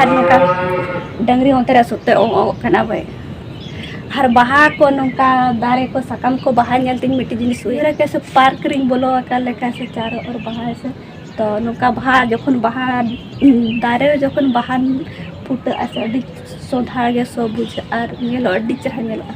ᱟᱨ ᱱᱚᱝᱠᱟ ᱰᱟᱹᱝᱨᱤ ᱚᱱᱛᱮ ᱨᱮ ᱥᱩᱫ ᱛᱮ ᱚᱜ ᱚᱜ ᱠᱟᱱᱟ ᱵᱟᱭ ᱟᱨ ᱵᱟᱦᱟ ᱠᱚ ᱱᱚᱝᱠᱟ ᱫᱟᱨᱮ ᱠᱚ ᱥᱟᱠᱟᱢ ᱠᱚ ᱵᱟᱦᱟ ᱧᱮᱞ ᱛᱤᱧ ᱢᱤᱫᱴᱤᱡ ᱡᱤᱱᱤᱥ ᱩᱭᱦᱟᱹᱨ ᱠᱮᱫᱟ ᱥᱮ ᱯᱟᱨᱠ ᱨᱤᱧ ᱵᱚᱞᱚ ᱟᱠᱟᱱ ᱞᱮᱠᱟ ᱥᱮ ᱪᱟᱨᱚ ᱚᱨ ᱵᱟᱦᱟ ᱥᱮ ᱛᱚ ᱱᱚᱝᱠᱟ ᱵᱟᱦᱟ ᱡᱚᱠᱷᱚᱱ ᱵᱟᱦᱟ ᱫᱟᱨᱮ ᱨᱮ ᱡᱚᱠᱷᱚᱱ ᱵᱟᱦᱟ ᱯᱷᱩᱴᱟᱹᱜᱼᱟ ᱥᱮ ᱟᱹᱰᱤ ᱥᱚᱫᱷᱟᱲ ᱜᱮ ᱥᱚ ᱵᱩᱡᱷᱟᱹᱜᱼᱟ ᱟᱨ ᱧᱮᱞᱚᱜ ᱟᱹᱰᱤ ᱪᱮᱦᱨᱟ ᱧᱮᱞᱚᱜᱼᱟ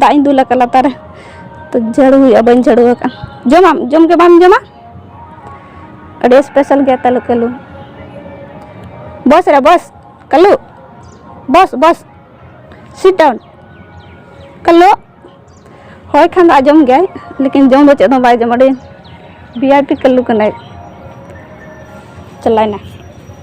ᱫᱟᱜ ᱤᱧ ᱫᱩᱞ ᱟᱠᱟᱫ ᱞᱟᱛᱟᱨ ᱨᱮ ᱛᱚ ᱡᱷᱟᱹᱲᱩ ᱦᱩᱭᱩᱜᱼᱟ ᱵᱟᱹᱧ ᱡᱷᱟᱹᱲᱩ ᱟᱠᱟᱫ ᱡᱚᱢᱟᱢ ᱡᱚᱢ ᱜᱮ ᱵᱟᱢ ᱡᱚᱢᱟ ᱟᱹᱰᱤ ᱥᱯᱮᱥᱟᱞ ᱜᱮᱭᱟ ᱛᱟᱞᱩ ᱠᱟᱞᱩ ᱵᱚᱥ ᱨᱮ boss Kalu boss boss sit down Kalu ᱦᱳᱭ ᱠᱷᱟᱱ ᱫᱚ ᱟᱸᱡᱚᱢ ᱜᱮᱭᱟᱭ ᱞᱮᱠᱤᱱ ᱡᱚᱢ ᱫᱚ ᱪᱮᱫ ᱦᱚᱸ ᱵᱟᱭ ᱡᱚᱢ ᱟᱹᱰᱤ ᱵᱷᱤ ᱟᱭ ᱯᱤ ᱠᱟᱞᱩ ᱠᱟᱱᱟᱭ ᱪᱟᱞᱟᱭᱱᱟ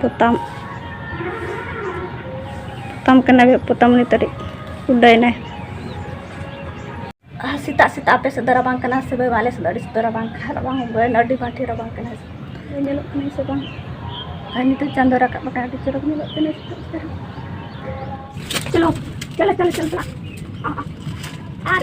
ᱯᱚᱛᱟᱢ ᱯᱚᱛᱟᱢ ᱠᱟᱱᱟᱭ ᱯᱚᱛᱟᱢ ᱩᱱᱤ ᱛᱟᱹᱨᱤᱡ ᱩᱰᱟᱹᱭᱱᱟᱭ ᱥᱮᱛᱟᱜ ᱥᱮᱛᱟᱜ ᱟᱯᱮ ᱥᱮᱫ ᱫᱚ ᱨᱟᱵᱟᱝ ᱠᱟᱱᱟ ᱥᱮ ᱵᱟᱝ ᱟᱞᱮ ᱥᱮᱫ ᱫᱚ ᱟᱹᱰᱤ ᱥᱮᱫ ᱫᱚ ᱨᱟᱵᱟᱝ ᱠᱟᱱᱟ ᱨᱟᱵᱟᱝ ᱵᱟᱹᱭ ᱟᱹᱰᱤ ᱵᱟᱝ ᱴᱷᱤᱠ ᱨᱟᱵᱟᱝ ᱠᱟᱱᱟ ᱧᱮᱞᱚᱜ ᱠᱟᱱᱟ ᱥᱮ ᱵᱟᱝ ᱟᱨ ᱱᱤᱛᱚᱜ ᱪᱟᱸᱫᱚ ᱨᱟᱠᱟᱵ ᱟᱠᱟᱱᱟ ᱟᱹᱰᱤ ᱪᱚᱨᱚᱠ ᱧᱮᱞᱚᱜ ᱠᱟᱱᱟ ᱥᱮᱛᱟᱜ ᱥᱮᱛᱟᱜ ᱪᱚᱞᱚ ᱪᱚᱞᱚ ᱪᱚᱞᱚ ᱪᱚᱞᱚ ᱟᱨ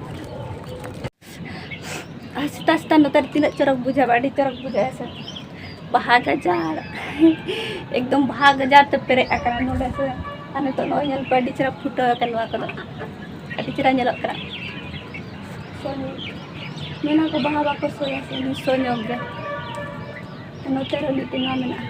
ᱥᱮᱛᱟᱜ ᱥᱮᱛᱟᱜ ᱱᱚᱛᱮ ᱛᱤᱱᱟᱹᱜ ᱪᱚᱨᱚᱠ ᱵᱩᱡᱷᱟᱹᱜᱼᱟ ᱟᱹᱰᱤ ᱪᱚᱨᱚᱠ ᱵᱩᱡᱷᱟᱹᱜᱼᱟ ᱥᱮ ᱵᱟᱦᱟ ᱜᱟᱡᱟᱲ ᱮᱠᱫᱚᱢ ᱵᱟᱦᱟ ᱜᱟᱡᱟᱲ ᱛᱮ ᱯᱮᱨᱮᱡ ᱟᱠᱟᱱᱟ ᱱᱚᱰᱮ ᱥᱮ ᱟᱨ ᱱᱤᱛᱚᱜ ᱱᱚᱜᱼᱚᱭ ᱧᱮᱞ ᱯᱮ ᱟᱹᱰᱤ ᱪᱮᱦᱨᱟ ᱯᱷᱩᱴᱟᱹᱣ ᱟᱠᱟᱱ ᱱᱚᱣᱟ ᱠᱚᱫᱚ ᱟᱹᱰᱤ ᱪᱮᱦᱨᱟ ᱧᱮᱞᱚᱜ ᱠᱟᱱᱟ ᱢᱮᱱᱟ ᱠᱚ ᱵᱟᱦᱟ ᱵᱟᱠᱚ ᱥᱚᱭᱟ ᱥᱮ ᱥᱚ ᱧᱚᱜ ᱜᱮ ᱱᱚᱛᱮ ᱨᱮ ᱢᱤᱫᱴᱮᱱ ᱱᱚᱣᱟ ᱢᱮᱱᱟᱜᱼᱟ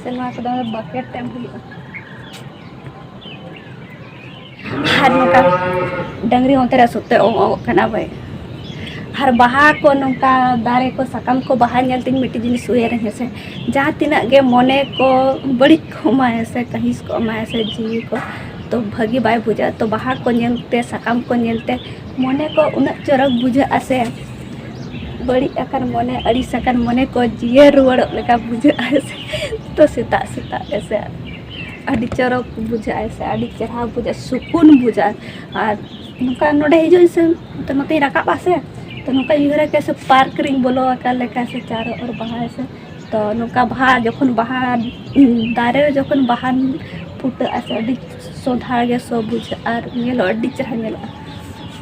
ᱥᱮ ᱱᱚᱣᱟ ᱠᱚᱫᱚ ᱵᱟᱠᱮᱴ ᱛᱮ ᱮᱢ ᱦᱩᱭᱩᱜᱼᱟ ᱟᱨ ᱱᱚᱝᱠᱟ ᱰᱟᱹᱝᱨᱤ ᱦᱚᱸ ᱚᱱᱛᱮ ᱨᱮ ᱥᱩᱫᱛᱮ ᱚᱸᱜ ᱚᱸᱜ ᱠᱟᱱᱟ ᱵᱟᱭ ᱟᱨ ᱵᱟᱦᱟ ᱠᱚ ᱱᱚᱝᱠᱟ ᱫᱟᱨᱮ ᱠᱚ ᱥᱟᱠᱟᱢ ᱠᱚ ᱵᱟᱦᱟ ᱧᱮᱞ ᱛᱤᱧ ᱢᱤᱫᱴᱤᱡ ᱡᱤᱱᱤᱥ ᱩᱭᱦᱟᱹᱨ ᱤᱧ ᱦᱮᱸᱥᱮ ᱡᱟᱦᱟᱸ ᱛᱤᱱᱟᱹᱜ ᱜᱮ ᱢᱚᱱᱮ ᱠᱚ ᱵᱟᱹᱲᱤᱡ ᱠᱚᱜ ᱢᱟ ᱦᱮᱸᱥᱮ ᱠᱟᱹᱦᱤᱥ ᱠᱚᱜ ᱢᱟ ᱦᱮᱸᱥᱮ ᱡᱤᱣᱤ ᱠᱚ ᱛᱚ ᱵᱷᱟᱹᱜᱤ ᱵᱟᱭ ᱵᱩᱡᱷᱟᱹᱜᱼᱟ ᱛᱚ ᱵᱟᱦᱟ ᱠᱚ ᱧᱮᱞᱛᱮ ᱥᱟᱠᱟᱢ ᱠᱚ ᱧᱮᱞᱛᱮ ᱢᱚᱱᱮ ᱠᱚ ᱩᱱᱟᱹᱜ ᱪᱚᱨᱚᱠ ᱵᱩᱡᱷᱟᱹᱜᱼᱟ ᱥᱮ ᱵᱟᱹᱲᱤᱡ ᱟᱠᱟᱱ ᱢᱚᱱᱮ ᱟᱹᱲᱤᱥ ᱟᱠᱟᱱ ᱢᱚᱱᱮ ᱠᱚ ᱡᱤᱭᱟᱹᱲ ᱨᱩᱣᱟᱹᱲᱚᱜ ᱞᱮᱠᱟ ᱵᱩᱡᱷᱟᱹᱜᱼᱟ ᱛᱚ ᱥᱮᱛᱟᱜ ᱥᱮᱛᱟᱜ ᱦᱮᱸᱥᱮ ᱟᱹᱰᱤ ᱪᱚᱨᱚᱠ ᱵᱩᱡᱷᱟᱹᱜᱼᱟ ᱥᱮ ᱟᱹᱰᱤ ᱪᱮᱦᱨᱟ ᱵᱩᱡᱷᱟᱹᱜᱼᱟ ᱥᱩᱠᱩᱱ ᱵᱩᱡᱷᱟᱹᱜᱼᱟ ᱟᱨ ᱱᱚᱝᱠᱟ ᱱᱚᱰᱮ ᱦᱤᱡᱩᱜ ᱟᱹᱧ ᱥᱮ ᱛᱚ ᱱᱚᱛᱮᱧ ᱨᱟᱠᱟᱵ ᱟᱥᱮ ᱛᱚ ᱱᱚᱝᱠᱟᱧ ᱩᱭᱦᱟᱹᱨᱟ ᱠᱤ ᱥᱮ ᱯᱟᱨᱠ ᱨᱤᱧ ᱵᱚᱞᱚ ᱟᱠᱟᱱ ᱞᱮᱠᱟ ᱥᱮ ᱪᱟᱨᱚ ᱚᱨ ᱵᱟᱦᱟ ᱥᱮ ᱛᱚ ᱱᱚᱝᱠᱟ ᱵᱟᱦᱟ ᱡᱚᱠᱷᱚᱱ ᱵᱟᱦᱟ ᱫᱟᱨᱮ ᱨᱮ ᱡᱚᱠᱷᱚᱱ ᱵᱟᱦᱟ ᱯᱷᱩᱴᱟᱹᱜᱼᱟ ᱥᱮ ᱟᱹᱰᱤ ᱥᱚᱸᱫᱷᱟᱲ ᱜᱮ ᱥᱚ ᱵᱩᱡᱷᱟᱹᱜᱼᱟ ᱟᱨ ᱧᱮᱞᱚᱜᱼᱟ ᱟᱹᱰᱤ ᱪᱮᱦᱨᱟ ᱧᱮᱞᱚᱜᱼᱟ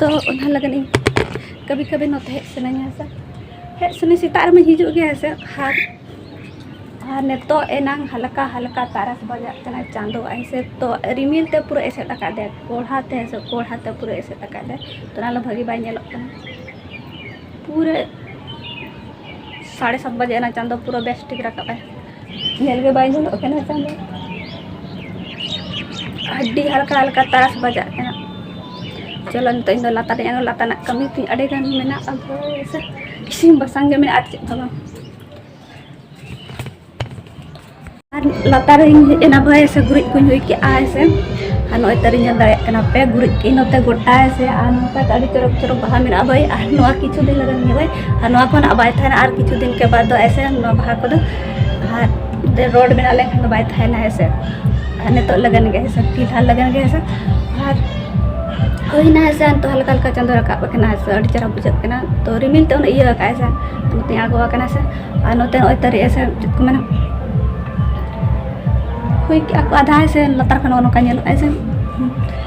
ᱛᱚ ᱚᱱᱟ ᱞᱟᱹᱜᱤᱫ ᱤᱧ ᱠᱟᱹᱵᱷᱤ ᱠᱟᱹᱵᱷᱤ ᱱᱚᱛᱮ ᱦᱮᱡ ᱥᱟᱱᱟᱧᱟ ᱥᱮ ᱦᱮᱡ ᱥᱟᱱᱟᱧ ᱥᱮᱛᱟᱜ ᱨᱮᱢᱟᱧ ᱦᱤᱡᱩᱜ ᱜᱮᱭᱟ ᱦᱮᱸ ᱥᱮ ᱟᱨ ᱟᱨ ᱱᱤᱛᱚᱜ ᱮᱱᱟᱝ ᱦᱟᱞᱠᱟ ᱦᱟᱞᱠᱟ ᱛᱟᱨᱟᱥ ᱵᱟᱡᱟᱜ ᱠᱟᱱᱟ ᱪᱟᱸᱫᱚ ᱟᱭ ᱥᱮ ᱛᱚ ᱨᱤᱢᱤᱞ ᱛᱮ ᱯᱩᱨᱟᱹ ᱮᱥᱮᱫ ᱟᱠᱟᱫ ᱫᱮᱭᱟ ᱠᱚᱲᱦᱟ ᱛᱮ ᱦᱮᱸ ᱥᱮ ᱠᱚᱲᱦᱟ ᱛᱮ ᱯᱩᱨᱟᱹ ᱮᱥᱮᱫ ᱟᱠᱟᱫ ᱫᱮᱭᱟ ᱛᱚ ᱚᱱᱟ ᱞᱟᱹᱜᱤᱫ ᱵᱷᱟᱹᱜᱤ ᱵᱟᱭ ᱧᱮᱞᱚᱜ ᱠᱟᱱᱟ ᱯᱩᱨᱟᱹ ᱥᱟᱲᱮ ᱥᱟᱛ ᱵᱟᱡᱮ ᱮᱱᱟ ᱪᱟᱸᱫᱚ ᱯᱩᱨᱟᱹ ᱵᱮᱥ ᱴᱷᱤᱠ ᱨᱟᱠᱟᱵ ᱟᱭ ᱧᱮᱞ ᱜᱮ ᱵᱟᱭ ᱧᱮᱞᱚᱜ ᱠᱟᱱᱟ ᱪᱟᱸᱫᱚ ᱟᱹᱰᱤ ᱦᱟᱞᱠᱟ ᱦᱟᱞᱠᱟ ᱛᱟᱨᱟᱥ ᱵᱟᱡᱟᱜ ᱠᱟᱱᱟ ᱪᱚᱞᱚ ᱱᱤᱛᱚᱜ ᱤᱧᱫᱚ ᱞᱟᱛᱟᱨ ᱨᱮ ᱟᱬᱜᱚ ᱞᱟᱛᱟᱨ ᱨᱮᱱᱟᱜ ᱠᱟᱹᱢᱤ ᱛᱤᱧ ᱟᱹᱰᱤ ᱜᱟᱱ ᱢᱮᱱᱟᱜᱼᱟ ᱵᱮᱥ ᱤᱥᱤᱱ ᱵᱟᱥᱟᱝ ᱜᱮ ᱢᱮᱱᱟᱜᱼᱟ ᱟᱨ ᱪᱮᱫ ᱦᱚᱸ ᱵᱟᱝ ᱟᱨ ᱞᱟᱛᱟᱨ ᱨᱮᱧ ᱦᱮᱡ ᱮᱱᱟ ᱵᱷᱟᱭ ᱥᱮ ᱜᱩᱨᱤᱡ ᱠᱚᱧ ᱦᱩᱭ ᱠᱮᱜᱼᱟ ᱥᱮ ᱟᱨ ᱱᱚᱜᱼᱚᱭ ᱛᱟᱹᱨᱤᱧ ᱧᱮᱞ ᱫᱟᱲᱮᱭᱟᱜ ᱠᱟᱱᱟ ᱯᱮ ᱜᱩᱨᱤᱡ ᱠᱮᱜ ᱟᱹᱧ ᱱᱚᱛᱮ ᱜᱚᱴᱟ ᱥᱮ ᱟᱨ ᱱᱚᱝᱠᱟ ᱟᱹᱰᱤ ᱪᱚᱨᱚᱠ ᱪᱚᱨᱚᱠ ᱵᱟᱦᱟ ᱢᱮᱱᱟᱜᱼᱟ ᱵᱷᱟᱭ ᱟᱨ ᱱᱚᱣᱟ ᱠᱤᱪᱷᱩ ᱫᱤᱱ ᱞᱟᱜᱟᱱ ᱜᱮ ᱵᱷᱟᱭ ᱟᱨ ᱱᱚᱣᱟ ᱠᱷᱚᱱ ᱵᱟᱭ ᱛᱟᱦᱮᱱᱟ ᱟᱨ ᱠᱤᱪᱷᱩ ᱫᱤᱱ ᱠᱮ ᱵᱟᱫ ᱫᱚ ᱮᱥᱮ ᱱᱚᱣᱟ ᱵᱟᱦᱟ ᱠᱚᱫᱚ ᱟᱨ ᱨᱳᱰ ᱵᱮᱱᱟᱣ ᱞᱮᱱᱠᱷᱟᱱ ᱫᱚ ᱵᱟᱭ ᱛᱟᱦᱮᱱᱟ ᱦᱮᱸᱥᱮ ᱟᱨ ᱱᱤᱛᱚᱜ ᱞᱟᱜᱟᱱ ᱜᱮ ᱦᱮᱸᱥᱮ ᱯᱷᱤᱞᱦᱟᱞ ᱞᱟᱜᱟᱱ ᱜᱮ ᱦᱮᱸᱥᱮ ᱟᱨ ᱦᱩᱭᱱᱟ ᱦᱮᱸᱥᱮ ᱱᱤᱛᱚᱜ ᱦᱟᱞᱠᱟ ᱦᱟᱞᱠᱟ ᱪᱟᱸᱫᱚ ᱨᱟᱠᱟᱵ ᱟᱠᱟᱱᱟ ᱦᱮᱸᱥᱮ ᱟᱹᱰᱤ ᱪᱮᱦᱨᱟ ᱵᱩᱡᱷᱟᱹᱜ ᱠᱟᱱᱟ ᱛᱚ ᱨᱤᱢᱤᱞ ᱛᱮ ᱩᱱᱟᱹᱜ ᱤᱭᱟᱹ ᱟᱠᱟᱫ ᱦᱮᱸᱥᱮ ᱱᱚᱛᱮ ᱟᱬᱜᱚ ᱟᱠᱟᱱᱟ ᱦᱮᱸᱥᱮ ᱟᱨ ᱱᱚᱛᱮ ᱱᱚᱜᱼᱚᱭ ᱛᱟᱹᱨᱤ ᱦᱮᱸᱥᱮ ᱪᱮᱫ ᱠᱚ ᱢᱮᱱᱟ ᱦᱩᱭ ᱠᱮᱜᱼᱟ ᱠᱚ ᱟᱫᱷᱟ ᱦᱮᱸᱥᱮ ᱞᱟᱛᱟᱨ ᱠᱷᱚᱱ ᱱᱚᱜᱼᱚ ᱱᱚᱝᱠᱟ ᱧᱮᱞᱚᱜᱼᱟ ᱦᱮᱸᱥᱮ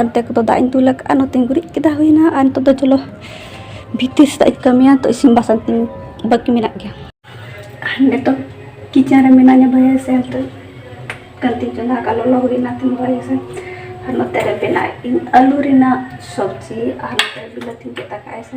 ᱚᱱᱛᱮ ᱠᱚᱫᱚ ᱫᱟᱜ ᱤᱧ ᱫᱩᱞ ᱟᱠᱟᱫᱼᱟ ᱱᱚᱛᱮᱧ ᱜᱩᱨᱤᱡ ᱠᱮᱫᱟ ᱦᱩᱭᱱᱟ ᱟᱨ ᱱᱤᱛᱚᱜ ᱫᱚ ᱪᱚᱞᱚ ᱵᱷᱤᱛᱤᱨ ᱥᱮᱫᱟᱜ ᱤᱧ ᱠᱟᱹᱢᱤᱭᱟ ᱛᱚ ᱤᱥᱤᱱ ᱵᱟᱥᱟᱝ ᱛᱤᱧ ᱵᱟᱹᱠᱤ ᱢᱮᱱᱟᱜ ᱜᱮᱭᱟ ᱱᱤᱛᱚᱜ ᱠᱤᱪᱮᱱ ᱨᱮ ᱢᱮᱱᱟᱧᱟ ᱵᱷᱟᱹᱭᱟᱹ ᱥᱮ ᱱᱤᱛᱚ ᱠᱟᱹᱱᱛᱤᱧ ᱪᱚᱸᱫᱟ ᱟᱠᱟᱫ ᱞᱚᱞᱚ ᱦᱩᱭᱱᱟ ᱛᱤᱧ ᱵᱷᱟᱹᱭᱟᱹ ᱥᱮ ᱟᱨ ᱱᱚᱛᱮ ᱨᱮ ᱵᱮᱱᱟᱣᱮᱫ ᱟᱹᱧ ᱟᱹᱞᱩ ᱨᱮᱱᱟᱜ ᱥᱚᱵᱽᱡᱤ ᱟᱨ ᱱᱚᱛᱮ ᱵᱤᱞᱟᱹᱛᱤᱧ ᱜᱮᱫ ᱟᱠᱟᱫᱼᱟ ᱥᱮ